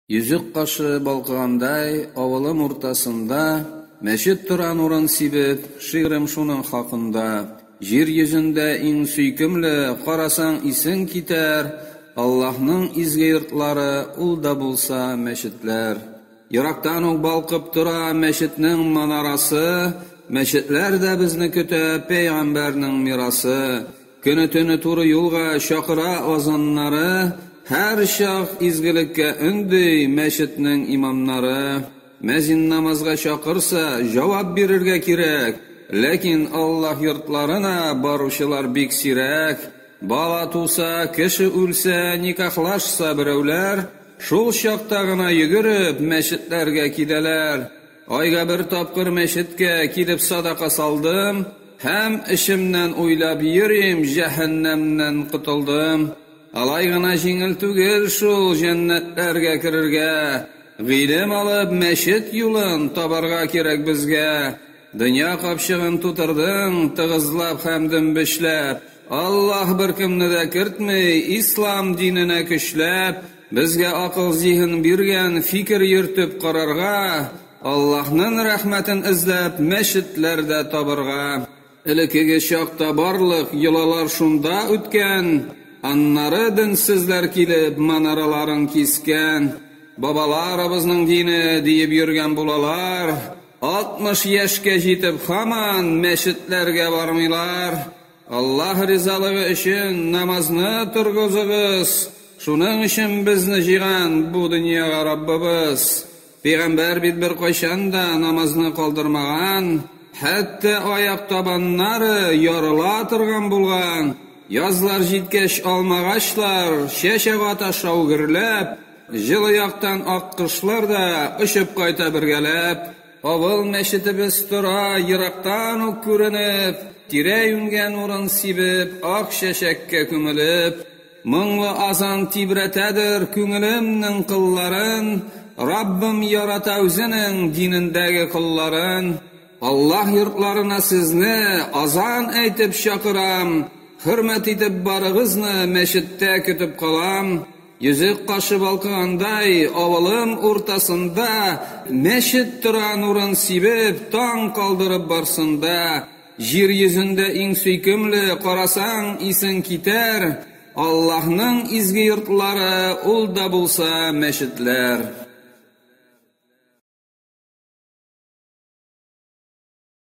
Йөзек кашы балкыгандай авылым уртасында Мәчет торан урын сибеп, шигырем шуның хакында. Җир йөзендә иң сөйкемле, карасаң исең китәр, Аллаһның изге йортлары, ул да булса мәчетләр. Ерактан ук балкып тора мәчетнең манарасы, Мәчетләр дә безне көтә, пәйгамбәрнең мирасы. Көне-төне туры юлга чакыра азаннары, һәрчак изгелеккә өнди мәчетнең имамнары. Мәзин намазга чакырса, җавап бирергә кирәк. Ләкин Аллаһ йортларына баручылар бик сирәк. Бала туса, кеше үлсә, никахлашса берәүләр, шул чакта гына йөгереп мәчетләргә киләләр. Айга бер тапкыр мәчеткә килеп садака салдым һәм эчемнән уйлап йөрим, җәһәннәмнән котылдым. Алай гына җиңел түгел шул җәннәтләргә керергә. Гыйлем алып, мәчет юлын табарга кирәк безгә. Дөнья капчыгын тутырдың тыгызлап һәм дөмбешләп. Аллаһ беркемне дә кертми, ислам диненә көчләп. Безгә акыл-зиһен биргән, фикер йөртеп карарга, Аллаһнын рәхмәтен эзләп, мәчетләр дә табырга. Элекеге чакта барлык йолалар шунда үткән, аннары денсезләр килеп, манараларын кискән. Бабаларыбызның дине, диеп йөргән булалар, 60 яшькә җитеп, хаман мәчетләргә бармыйлар. Аллаһ ризалыгы өчен намазны торгызыгыз, шуның өчен безне җыйган бу дөньяга Раббыбыз. Пәйгамбәр бит беркайчан да намазны калдырмаган, хәтта аяк табаннары ярыла торган булган. Язлар җиткәч, алмагачлар чәч ага таша гөрләп, җылы яктан аккошлар да очып кайта бергәләп. Авыл мәчетебез тора, ерактан ук күренеп, Тирә-юньгә нурын сибеп, ак чәчәккә күмелеп. Моңлы азан тибрәтәдер күңелемнең кылларын, Раббым ярата үзенең динендәге колларын. Аллаһ йортларына сезне азан әйтеп чакырам, Хөрмәт итеп барыгызны мәчеттә көтеп калам. Йөзек кашы балкыгандай авылым уртасында мәчет тора нурын сибеп, таң калдырып барсында, Җир йөзендә иң сөйкемле, карасаң, исең китәр, Аллаһның изге йортлары, ул да булса мәчетләр.